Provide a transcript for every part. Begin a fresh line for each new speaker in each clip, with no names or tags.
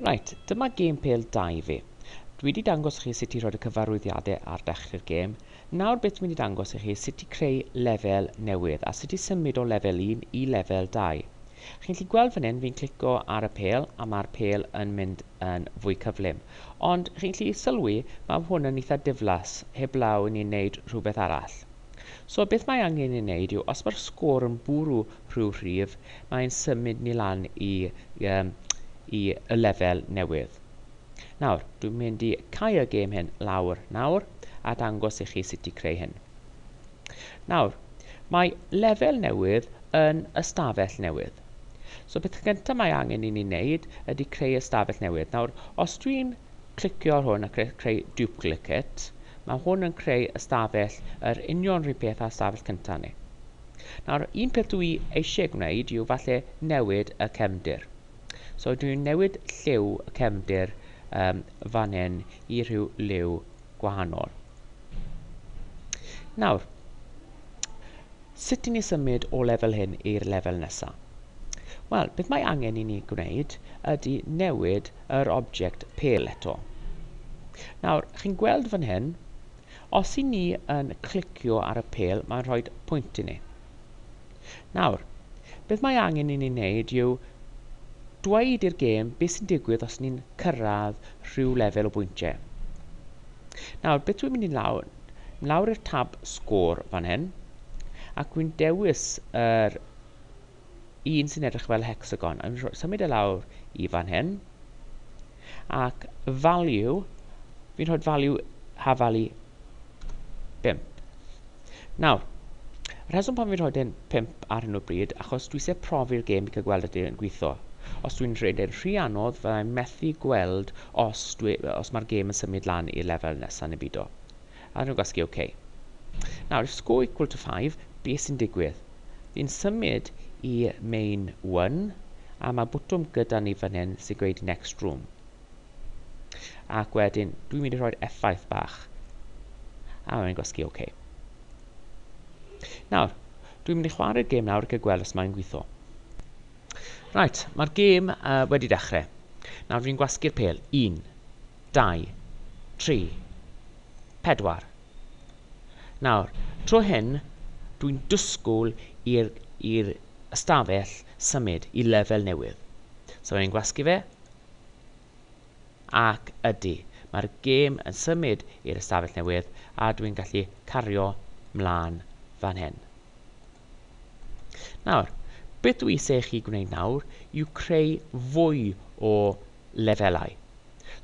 Reit, dyma gêm pêl dau fi. Dwi wedi dangos chi sut i rhoi'r cyfarwyddiadau ar dechrau'r gêm, nawr beth dwi'n mynd i dangos i chi sut i creu lefel newydd a sut i symud o lefel un i lefel dau. Chi'n gallu gweld fan hyn fi'n clico ar y pêl a mae'r pêl yn mynd yn fwy cyflym, ond chi'n gallu sylwi mae hwn yn eitha diflas heblaw i ni wneud rhywbeth arall. So beth mae angen ei wneud yw, os mae'r sgôr yn bwrw rhyw rhif, mae'n symud ni lan i, um, i y lefel newydd. Nawr, dwi'n mynd i cau y gêm hyn lawr nawr a dangos i chi sut i creu hyn. Nawr, mae lefel newydd yn ystafell newydd. So beth gyntaf mae angen i ni wneud ydy creu ystafell newydd. Nawr, os dwi'n clicio ar hwn a creu duplicate, mae hwn yn creu ystafell yr union rhyw peth â'r ystafell cyntaf ni. Nawr, un peth dwi eisiau gwneud yw falle newid y cefndir. So dwi'n newid lliw y cefndir um, fan hyn i rhyw liw gwahanol. Nawr, sut i ni symud o lefel hyn i'r lefel nesaf? Wel, beth mae angen i ni gwneud ydy newid yr object pale eto. Nawr, chi'n gweld fan hyn, os i ni yn clicio ar y pale, mae'n rhoi pwynt i ni. Nawr, beth mae angen i ni wneud yw dweud i'r gêm beth sy'n digwydd os ni'n cyrraedd rhyw lefel o bwyntiau. Nawr, beth dwi'n mynd i lawr? Lawr i'r tab sgôr fan hyn, ac dwi'n dewis yr un sy'n edrych fel hecsagon. Yn symud e lawr i fan hyn. Ac value, fi'n rhoi value hafalu 5. Nawr, y rheswm pan fi'n rhoi dyn 5 ar hyn o bryd, achos dwi eisiau profi'r gêm i cael gweld ydy yn gweithio. Os dwi'n rhaid yn rhy anodd, fyddai'n methu gweld os, dwi, os mae'r gêm yn symud lan i'r lefel nesaf neu byd o. A nhw gwasgu ok. Nawr if score equal to 5, be sy'n digwydd? Ni'n symud i main 1 a mae bwtwm gyda ni fan hyn sy'n gweud next room. Ac wedyn dwi'n mynd i rhoi'r effaith bach. A mae'n gwasgu ok. Nawr, dwi'n mynd i chwarae'r gêm nawr ac y gweld os mae'n gweithio. Right, mae'r gêm uh, wedi dechrau. Nawr dwi'n gwasgu'r pel. Un. Dau. Tri. Pedwar. Nawr, tro hyn, dwi'n dysgwyl i'r i'r ystafell symud i lefel newydd. So ni'n gwasgu fe. Ac ydy, mae'r gêm yn symud i'r ystafell newydd a dwi'n gallu cario mlaen fan hyn. Nawr, beth dwi eisiau i chi gwneud nawr yw creu fwy o lefelau.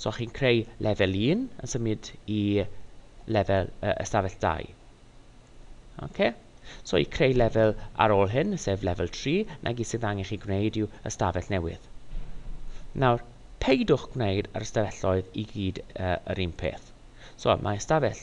So chi'n creu lefel 1 yn symud i lefel uh, ystafell 2. Okay? So i creu lefel ar ôl hyn, sef lefel 3, na gyd sydd angen chi gwneud yw ystafell newydd. Nawr, peidwch gwneud yr ystafelloedd i gyd uh, yr un peth. So mae ystafell